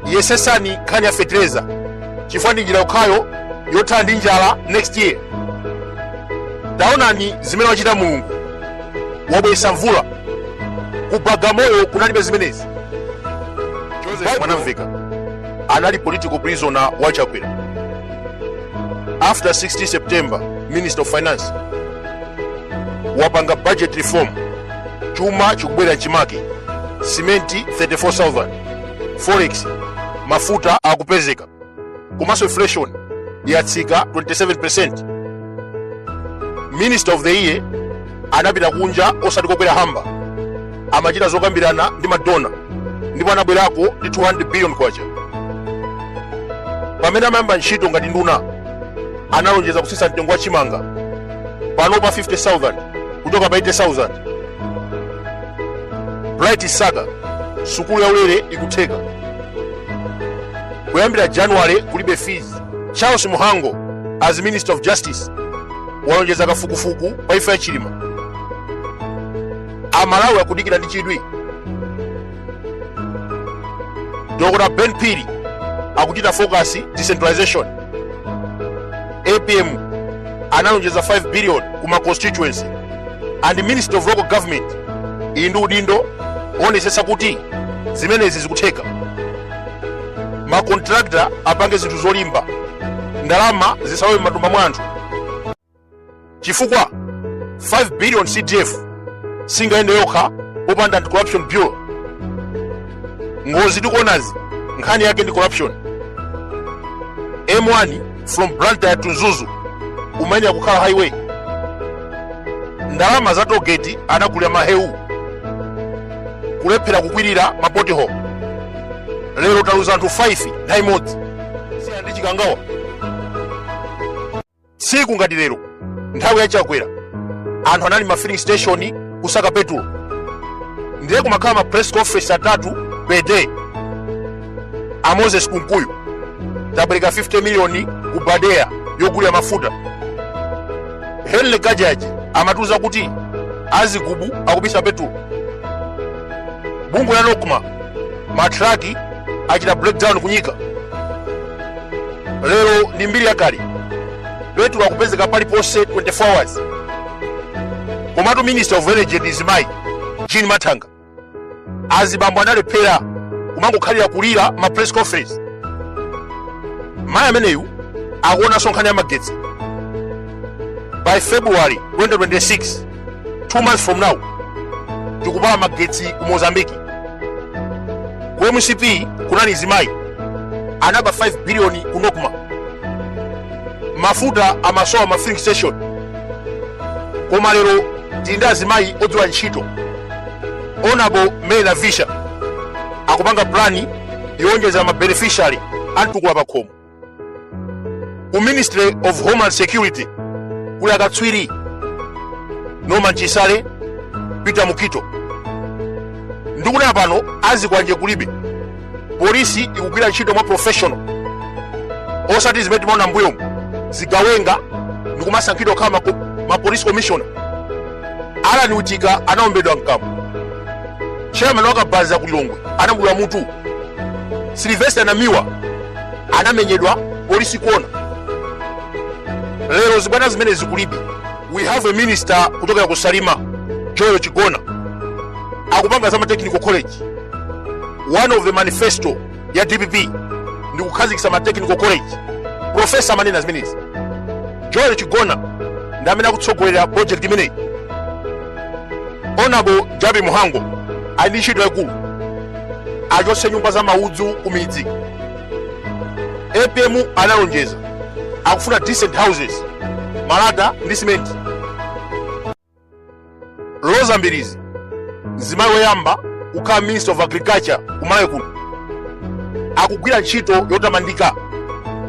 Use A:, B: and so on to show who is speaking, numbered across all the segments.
A: yesesani nkhani ya fetereza chifukwa ndi njira yokhayo yothana ndi njala next year taonani zimene wachita mulungu wabweretsa mvula ku bagamoyo kunalibe zimenezi joseph mwanamveka anali political prisoner wa chakwera after 16 september minister of finance wapanga budget reform chuma chikubwerera m'chimake simenti 34000 forex mafuta akupezeka komanso inflation yatsika 27% minister of the year anapita kunja osati kokwera hamba amachita zokambirana ndi madona ndipo anabwerako ndi 200 billion kwacha pamene amayamba ntchito ngati nduna analonjeza kutsitsa mtengo wa chimanga panopa 50000 kuchoka pa 80000 bright msaka sukulu yaulere ikutheka kuyambira january kulibe fees charles mhango as minister of justice walonjeza kafukufuku pa imfa ya chilima amalawi akudikira ndi chidwi dr ben phiri akuchita focus decentralization apm analonjeza 5 billion ku ma constituency and ministry of local government ili ndi udindo oonetsetsa kuti zimenezi zikutheka makontrakta apange zinthu zolimba ndalama zisathawire m'matumba mwa anthu chifukwa 5 billion cdf singayende yokha popanda anti-corruption bureau ngozi tikuonazi nkhani yake ndi corruption m1 from blantyre to mzuzu imayenera kukhala highway ndalama za togeti anagulira mahewu kulephera kukwirira ma pothole lero taluza anthu 5 nthawi imodzi siya ndi chikangawa tsiku ngati lero nthawi ya chakwera anthu anali m'ma filling station kusaka petulo ndiye kumakhala ma press conference atatu per day a moses kunkuyu tapereka 50 miliyoni ku badeya yogulira mafuta henry kachaje amatiuza kuti azigubu akubisa petulo bungwe la nocma matraki achita breakdown kunyika lero ndi mbiri yakale petulo akupezeka paliponse 24 hours komatu minister of energy ndi mzimayi jean mathanga azibambo analephera kumangokhalira kulira ma press conference mayi ameneyu akuonanso nkhani ya magetsi by february 2026 two months from now tikupala magetsi ku mozambiki ku mcp kunali mzimayi anaba 5 biliyoni ku nocma mafuta amasowa ma filling station koma lero tili ndi azimayi odziwa ntchito honorable mary navicha akupanga plani yowonjeza ma beneficiary a mtukula pakhomo ku ministry of homeland security kuli akatswiri norman chisale peter mukhito ndikunena pano azikwanje kulibe polisi ikugwira ntchito mwa professional osati zimene timaona mbuyomu zigawenga ndikumasankhidwa kukhala ma, ma police commissioner allan witika anaombedwa mkamwa chairman wakabaza ku lilongwe anamudula mutu sylvester namiwa anamenyedwa polisi ikuona lero zibwana zimenezi kulibe we have a minister kuchokera ku salima joel chigona akupanga za matechnical college one of the manifesto ya dpp ndi kukhazikitsa matechnical college profesa amanena zimenezi joel chigona ndi amene akutsogolera project imeneyi honorable jappie mhango ali ndi ntchito yaikulu achotse nyumba za maudzu ku midzi apm analonjeza akufuna decent houses malata ndi simenti roza mbilizi mzimayi woyamba kukhala minister of agriculture kumalawi kuno akugwira ntchito yotamandika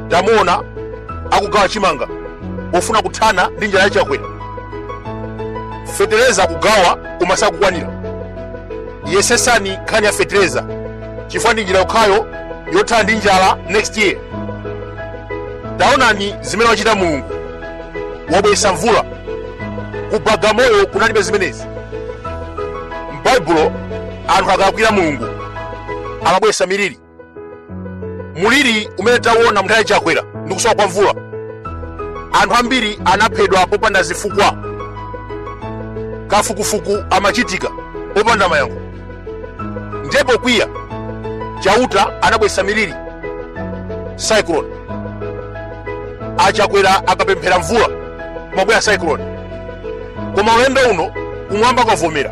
A: tamuona akugawa chimanga pofuna kuthana ndi njala ya chakwera fetereza akugawa koma sakukwanira yesesani nkhani ya fetereza chifukwa ndi njira yokhayo yothana ndi njala next year taonani zimene wachita mulungu wabweretsa mvula ku bagamoyo kunalibe zimenezi m'baibulo anthu akalakwira mulungu amabweretsa miliri muliri umene tawona mnthawi ya chakwera ndi kusowa kwa mvula anthu ambiri anaphedwa popanda zifukwa kafukufuku amachitika popanda mayankho ndiye pokwiya chauta anabwesa miliri cyclone achakwera akapemphera mvula kumabwera cyclone koma ulendo uno kumwamba kwavomera